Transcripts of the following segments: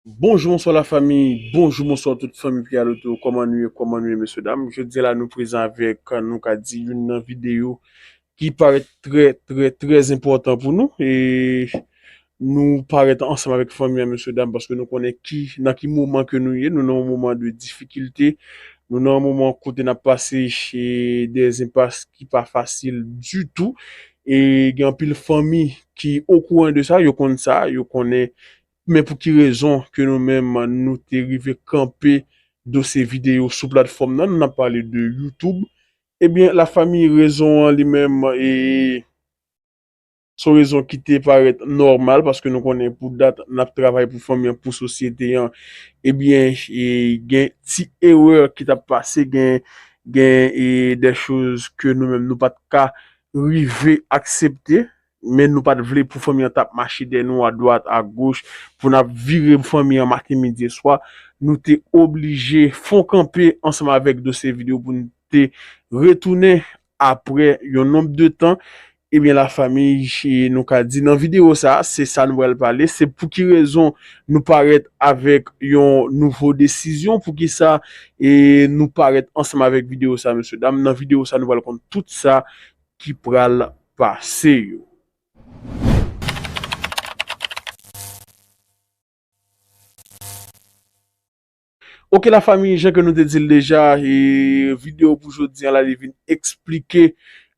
Bonjou bonswa la fami, bonjou bonswa tout fanmi pi al oto, kòman nou ye, kòman nou ye mesye dam, jodi la nou prezan avèk nou ka di youn nan videyo ki parèt trè trè trè enpòtan pou nou e nou parèt ansanm avèk fanmi an mesye dam paske nou konnen ki nan ki moman ke nou ye, nou nan yon moman de difikilte, nou nan yon moman kote n ap pase e de enpas ki pa fasil ditou e gen anpil fanmi ki okouran de sa, yo konn sa, yo konnen Men pou ki rezon ke nou menm nou te rive kanpe dosye videyo sou platfòm nan, nan pale de YouTube, ebyen la famiy rezon an li menm e son rezon ki te parèt nòmal paske nou konnen pou dat nap travay pou fanmi an, pou sosyete an, ebyen gen ti erè ki tap pase, gen gen dè choz ke nou menm nou pat ka rive aksepte. Men nou pa t vle pou fanmi an t ap mache dèyè nou adwat agoch, pou n ap vire fanmi an maten, midi e swa. Nou te oblije fè yon kanpe ansanm avèk dosye video pou n te retounen apre yon nonb de tan. Ebyen la fanmi, nou ka di nan video sa a, se sa nou pral pale, se pou ki rezon nou parèt avèk yon nouvo desizyon, pou ki sa nou parèt ansanm avèk video sa a, mesye dam. Nan video sa a nou pral konn tout sa ki pral pase yo. Ok la fami jan ke nou te dil deja e video pou jodi an la li vin eksplike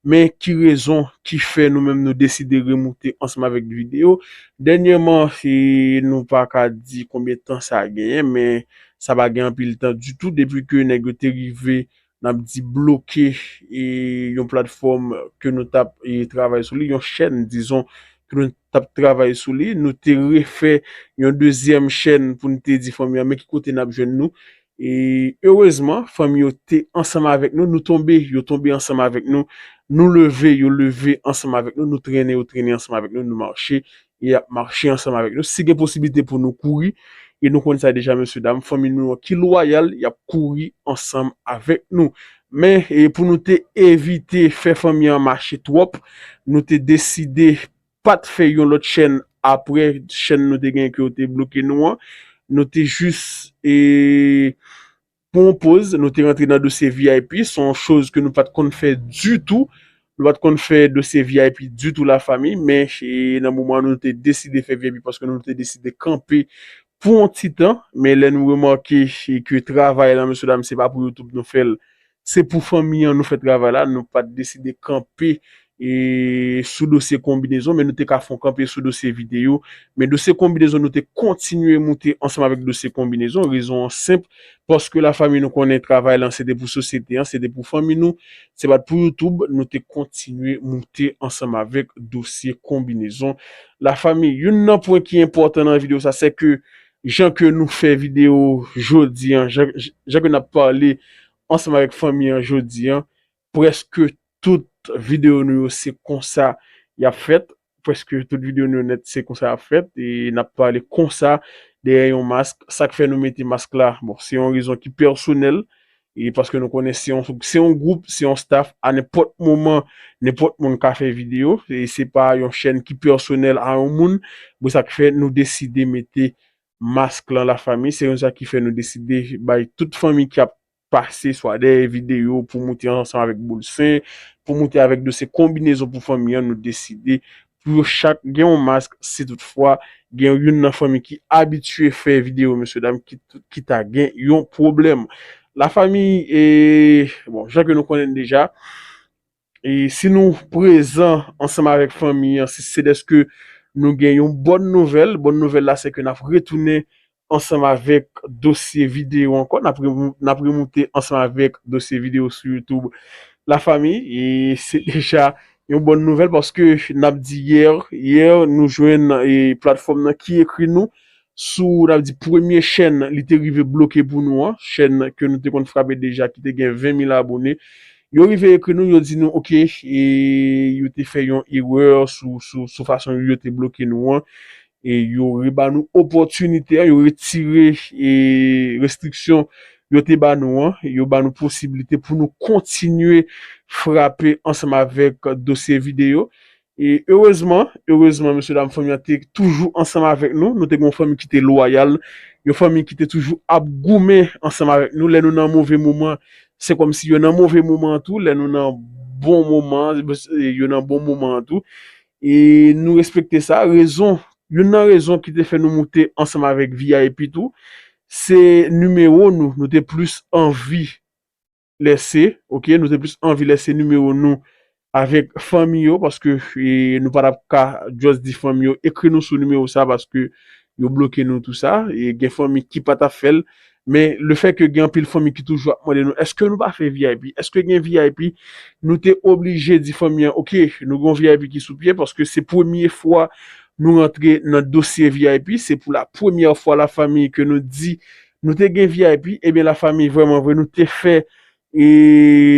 men ki rezon ki fè nou menm nou deside remoute ansanm avèk video. Dènyèman e nou pa ka di konbyen tan sa genyen men sa pa gen anpil tan ditou depi ke nèg yo te rive n ap di bloke yon platfòm ke nou t ap travay sou li, yon chèn dizon ke nou t ap travay sou li, nou te refè yon dezyèm chèn pou n te di fanmi an men ki kote n ap jwenn nou. E erezman fanmi yo te ansanm avèk nou, nou tonbe yo tonbe ansanm avèk nou, nou leve yo leve ansanm avèk nou, nou trennen yo trennen ansanm avèk nou, nou mache e y ap mache ansanm avèk nou. Si gen posiblite pou nou kouri, e nou konn sa deja mesye dam, fanmi nou an ki lwayal, y ap kouri ansanm avèk nou. Men, pou nou te evite fè fanmi an mache twòp, nou te deside pa t fè yon lòt chèn apre chèn nou te gen ke yo te bloke nou an. Nou te jis. Pou yon poz, nou te rantre nan dosye vip, se yon choz ke nou pat konn fè ditou, nou pat konn fè dosye vip ditou la famille, men nan moman an nou te deside fè vip paske nou te deside kanpe pou yon ti tan, men lè nou remake ke travay lan mesye dam se pa pou youtube nou fèl, se pou fanmi an nou fè travay la, nou pat deside kanpe sou dosye konbinezon men nou te ka fon kanpe sou dosye videyo men dosye konbinezon nou te kontinye moute ansanm avèk dosye konbinezon rezon an senp paske la fanmi nou konnen travay lan se te pou sosyete an se te pou fanmi nou se pat pou youtube nou te kontinye moute ansanm avèk dosye konbinezon la fanmi youn nan pwen ki enpòtan nan videyo sa se ke jan ke nou fè videyo jodi an jan ke nap pale ansanm avèk fanmi an jodi an Preske tout video nou yo se konsa yap fèt. Preske tout video nou yo nèt se konsa yap fèt. E nap pale konsa dèyè yon mask. Sak fè nou mete mask la? Bon se yon rezon ki pèsonèl. E paske nou konnen se yon se yon group, se yon staff a nenpòt moman nenpòt moun ka fè video. E se pa yon chèn ki pèsonèl a yon moun. Bon sak fè nou deside mete mask lan la fanmi. Se konsa ki fè nou deside bay tout fanmi ki ap pase swa dèyè videyo pou moute ansanm avèk boul sen, pou moute avèk dosye konbinezon pou fanmi an, nou deside pou yo chak gen yon mask si tout fwa gen youn nan fanmi ki abitye fè videyo mesye dam ki ta gen yon pwoblèm. La famiy e bon jan ke nou konnen deja. E si nou prezan ansanm avèk fanmi an, si se dèske nou gen yon bòn nouvèl, bòn nouvèl la sèke n ap retounen ansanm avèk dosye videyo ankò, n ap n ap remoute ansanm avèk dosye videyo sou YouTube La Famille e se deja yon bòn nouvèl paske n ap di yè yè nou jwenn e platfòm nan ki ekri nou sou n ap di premye chèn li te rive bloke pou nou an, chèn ke nou te konn frape deja ki te gen 20 mil abone, yo rive ekri nou yo di nou ok yo te fè yon erè sou fason yo te bloke nou an e yo re ba nou opòtinite an, yo retire restriksyon yo te ba nou an, yo ba nou posibilite pou nou kontinye frape ansanm avèk dosye videyo E erezman, erezman mesye dam fanmi an te toujou ansanm avèk nou, nou te gen yon fanmi ki te lwayal, yon fanmi ki te toujou ap goumen ansanm avèk nou, lè nou nan move moman se kòmsi yo nan move moman an tou, lè nou nan bon moman yo nan bon moman an tou, e nou respekte sa, rezon, youn nan rezon ki te fè nou moute ansanm avèk vip tou, se nimewo nou, nou te plis anvi. lèse ok nou te plis anvi lèse nimewo nou avèk fanmi yo paske nou pa tap ka just di fanmi yo ekri nou sou nimewo sa paske yo bloke nou tou sa e gen fanmi ki pa tap fèl men le fè ke gen anpil fanmi ki toujou ap mande nou eske nou pa fè vip eske gen vip nou te oblije di fanmi an ok nou gen yon vip ki sou pye paske se premye fwa nou rantre nan dosye vip se pou la premyè fwa la fanmi ke nou di Nou te gen vip ebyen la fami vreman vre nou te fè e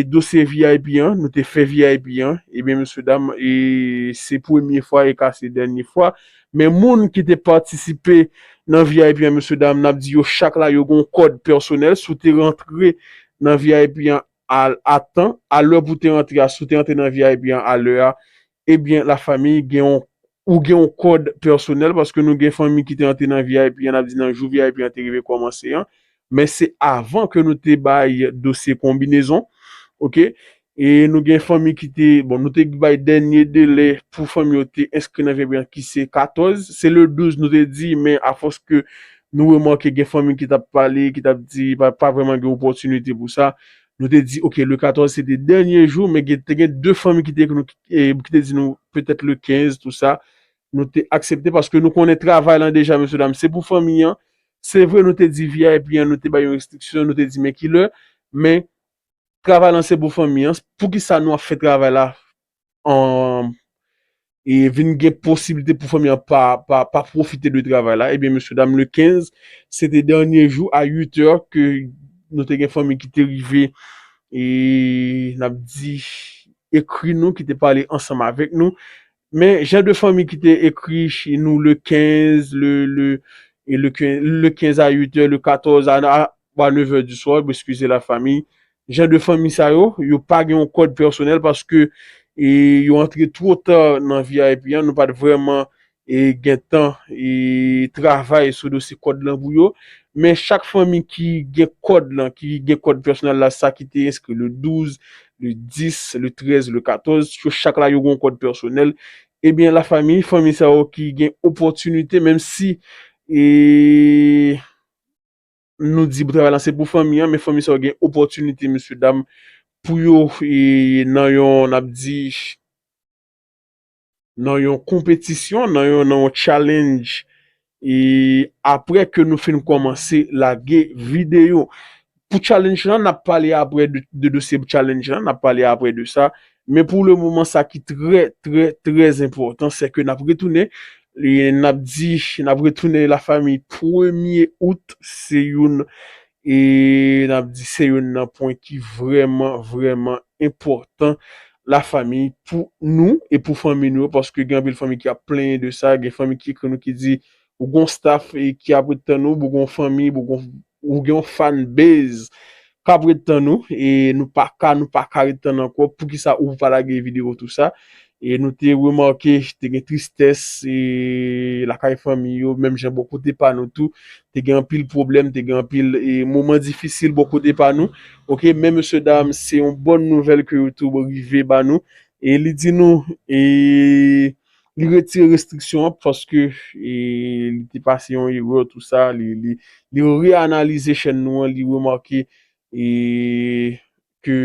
dosye vip an nou te fè vip an ebyen mesye dam e se premye fwa e ka se dènye fwa men moun ki te patisipe nan vip an mesye dam nap di yo chak la yo gon kòd pèsonèl si w te rantre nan vip an a tan a lè pou te rantre a si w te rantre nan vip an a lè a Ebyen la famille gen yon ou gen yon kòd pèsonèl paske nou gen fanmi ki te antre nan vip an ap di nan jou vip an te rive kòmanse an men se avan ke nou te bay dosye konbinezon ok e nou gen fanmi ki te bon nou te bay dènye delè pou fanmi yo te enskri nan vip an ki se 14 se le 12 nou te di men a fòs ke nou remake gen fanmi ki tap pale ki tap di pa pa vrèman gen opòtinite pou sa Nou te di ok le 14 se te dènye jou men te gen 2 fanmi ki te ekri nou ki te di nou petèt le 15 tou sa nou te aksepte paske nou konnen travay lan deja mesye dam se pou fanmi an se vre nou te di vip an nou te bay yon restriksyon nou te di men kilè men travay lan se pou fanmi an poukisa nou ap fè travay la e vin gen posiblite pou fanmi an pa profite de travay la, ebyen mesye dam le 15, se te dènye jou a 8 èr ke nou te gen fanmi ki te rive e n ap di ekri nou, ki te pale ansanm avèk nou, men jan de fanmi ki te ekri nou le 15, le 15 a 8 èr, le 14 a Bwa le vè di swa, eskize la fami, jan de fanmi sa yo, yo pa gen yon kòd pèsonèl paske yo antre two ta nan vip an, nou pat vrèman gen tan travay sou dosye kòd lan pou yo, men chak fanmi ki gen kòd lan, ki gen kòd pèsonèl la sa ki te enskri le 12, le 10, le 13, le 14, yo chak la yo gen yon kòd pèsonèl, ebyen la fami, fanmi sa yo ki gen opòtinite menm si. nou di travay lan se pou fanmi an men fanmi sa yo gen opòtinite mesye dam pou yo nan yon n ap di nan yon konpetisyon nan yon challenge e aprè ke nou fin kòmanse lage videyo pou challenge lan n ap pale aprè de dosye challenge lan n ap pale aprè de sa Men pou le moman sa ki trè trè trè enpòtan se ke nap retounen nap di nap retounen la fami premye out se youn e nap di se youn nan pwen ki vrèman vrèman enpòtan la fami pou nou e pou fanmi nou yo paske gen anpil fanmi ki ap plenyen de sa gen fanmi ki ekri nou ki di Ou gon staff ki ap ret tann ou, bou gon fanmi, bou gon ou gen yon fan base kap ret tann ou e nou paka nou paka ret tann ankò poukisa ou pa lage video tou sa e nou te remake te gen tristès e lakay fanmi yo menm jan bò kote pa nou tou te gen anpil pwoblèm te gen anpil e moman difisil bò kote pa nou ok men mesye dam se yon bon nouvèl ke YouTube rive ba nou e li di nou e Li retire restriksyon an paske li te pase yon erè tout sa. Li reanalize chèn nou an, li remake ke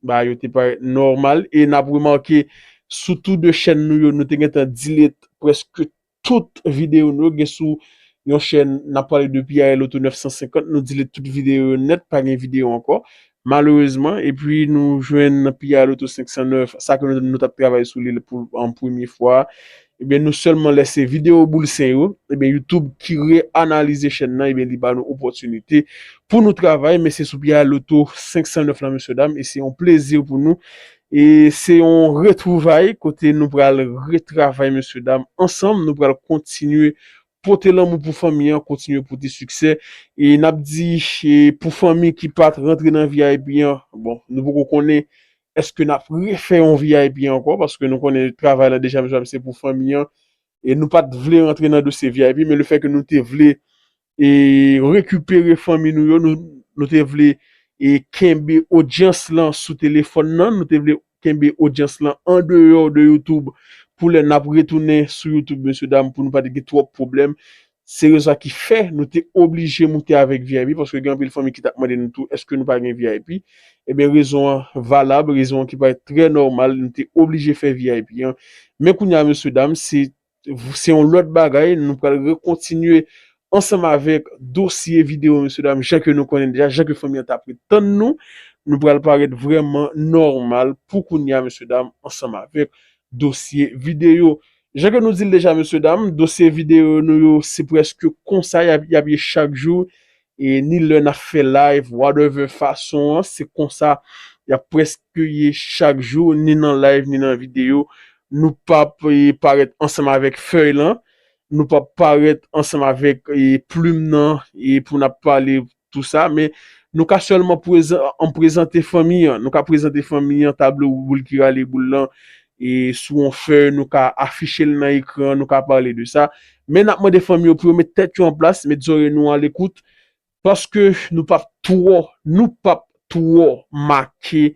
bagay yo te parèt nòmal. E nap remake sou tou 2 chèn nou yo, nou te gentan delete prèske tout videyo nou yo. Gen sou yon chèn nap pale de PIL Auto 950, nou delete tout videyo yo nèt, pa gen videyo ankò. Malerezman, epi nou jwenn nan piyay loto 509, sa ke nou tap travay sou li pou an premye fwa, ebyen nou sèlman lè se video boul sen yo, ebyen YouTube ki re analize chèn nan ebyen li ba nou opòtinite pou nou travay men se sou piyay loto 509 la mesye dam e se yon plezi pou nou e se yon retwouvay kote nou pral retravay mesye dam ansanm nou pral kontinye Pote lanmou pou fanmi an kontinye pote siksè e nap di pou fanmi ki pat rantre nan vip an bon nou poko konnen eske nap refè yon vip ankò paske nou konnen travay la deja mezanmi se pou fanmi an e nou pat vle rantre nan dosye vip men lefè ke nou te vle e rekipere fanmi nou yo nou te vle e kenbe odyans lan sou telefòn nan nou te vle Kenbe odyans lan andeyò de youtube pou lè nap retounen sou youtube mesye dam pou nou pa te gen twòp pwoblèm. Se rezon sa ki fè nou te oblije moute avèk vip paske gen anpil fanmi ki tap mande nou tou èske nou pa gen vip. Ebyen rezon an valab, rezon an ki parèt trè nòmal nou te oblije fè vip an. Men kounya mesye dam se Se yon lòt bagay, nou pral rekontinye ansanm avèk dosye videyo mesye dam jan ke nou konnen deja, jan ke fanmi an tap ret tann nou. Nou pral parèt vrèman nòmal pou kounya mesye dam ansanm avèk dosye videyo. Jan ke nou di l deja mesye dam, dosye videyo nou yo se prèske konsa yap ye chak jou, E ni lè nap fè live whatever fason an se konsa yap preske ye chak jou ni nan live ni nan video nou pap parèt ansanm avèk fèy lan nou pap parèt ansanm avèk plim nan pou nap pale tou sa men nou ka sèlman prezan an prezante fanmi an nou ka prezante fanmi an tablo boul ki rale boul lan E sou yon fèy nou ka afiche l nan ekran, nou ka pale de sa. Men n ap mande fanmi yo pou yo met tèt yo an plas, met zòrey nou alekout. Paske nou p ap twò, nou p ap twò make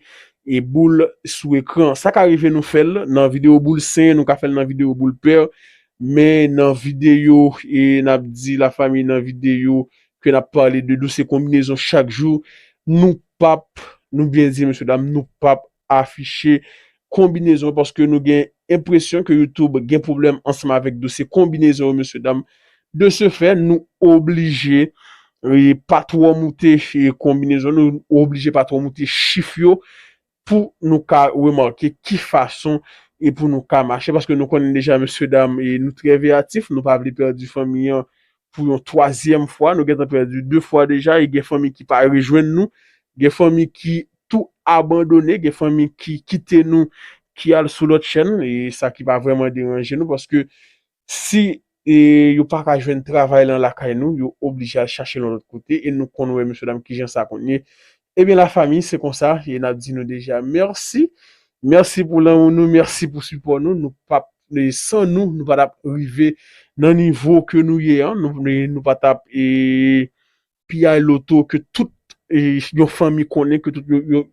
e boul sou ekran. Sa ka rive nou fè l nan videyo boul sen, nou ka fè l nan videyo boul pè. Men nan videyo e n ap di la fanmi nan videyo ke n ap pale de douse konbinezon chak jou, nou p ap, nou byen di mesye dam, nou p ap afiche konbinezon paske nou gen enpresyon ke youtube gen pwoblèm ansanm avèk dosye konbinezon yo mesye dam de se fè nou oblije pa twò moute konbinezon nou oblije pa twò moute chif yo pou nou ka remake ki fason e pou nou ka mache paske nou konnen deja mesye dam nou trè veyatif nou pa vle pèdi fanmi an pou yon twazyèm fwa, nou gentan pèdi 2 fwa deja e gen fanmi ki pa rejwenn nou, gen fanmi ki tou abandone, gen fanmi ki kite nou ki al sou lòt chèn e sa ki pa vrèman deranje nou paske si e yo pa ka jwenn travay lan lakay nou yo oblije al chache lan lòt kote e nou konn wè mesye dam kijan sa konn ye Ebyen la famille se konsa e nap di nou deja merci merci pou lanmou nou merci pou sipò nou nou pap san nou nou pa tap rive nan nivo ke nou ye an nou pa tap e piyay loto ke tout e yon fanmi konnen ke tout yon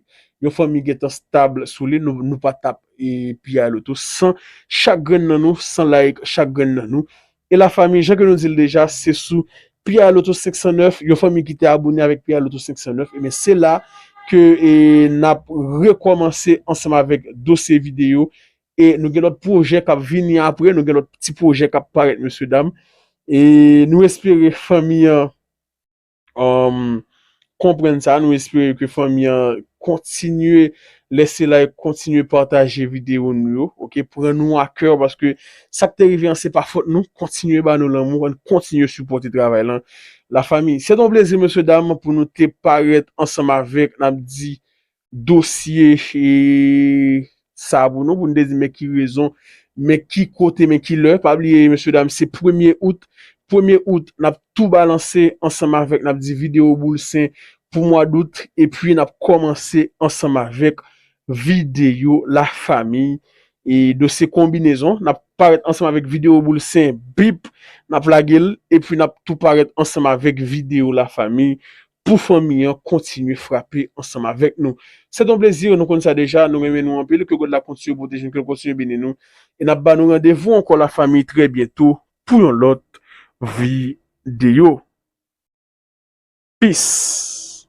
yon fanmi gentan stable sou li nou pa tap e piyay loto san chak grenn nan nou san like chak grenn nan nou E la fanmi jan ke nou dil deja se sou Pierre Lotto 509 yon fanmi ki te abone avèk Pierre Lotto 509 ebyen se la ke nap rekòmanse ansanm avèk dosye videyo e nou gen lòt pwojè kap vini aprè nou gen lòt ti pwojè kap parèt mesye dam e nou espere fanmi an konprann sa, nou espere ke fanmi an kontinye lèse like, kontinye pataje videyo nou yo, ok, pran nou a kè, paske sa k te rive an se pa fòt nou, kontinye ba nou lanmou, an kontinye sipòte travay lan, la fami. Se te yon plezi mesye dam pou nou te parèt ansanm avèk, n ap di dosye sa pou nou, pou nou te di men ki rezon, men ki kote, men ki lè. Pa bliye mesye dam se premye out, premye out n ap tou balanse ansanm avèk n ap di videyo boul sen pou mwa dout epi n ap kòmanse ansanm avèk videyo la famiy e dosye konbinezon n ap parèt ansanm avèk videyo boul sen bip n ap lage l epi n ap tou parèt ansanm avèk videyo la famiy Pou fanmi an kontinye frape ansanm avèk nou. Se t on plezi, nou konn sa deja, nou renmen nou anpil, ke God la kontinye pwoteje nou, ke l kontinye beni nou, e nap ba nou randevou ankò la fanmi trè byento pou yon lòt videyo. Peace.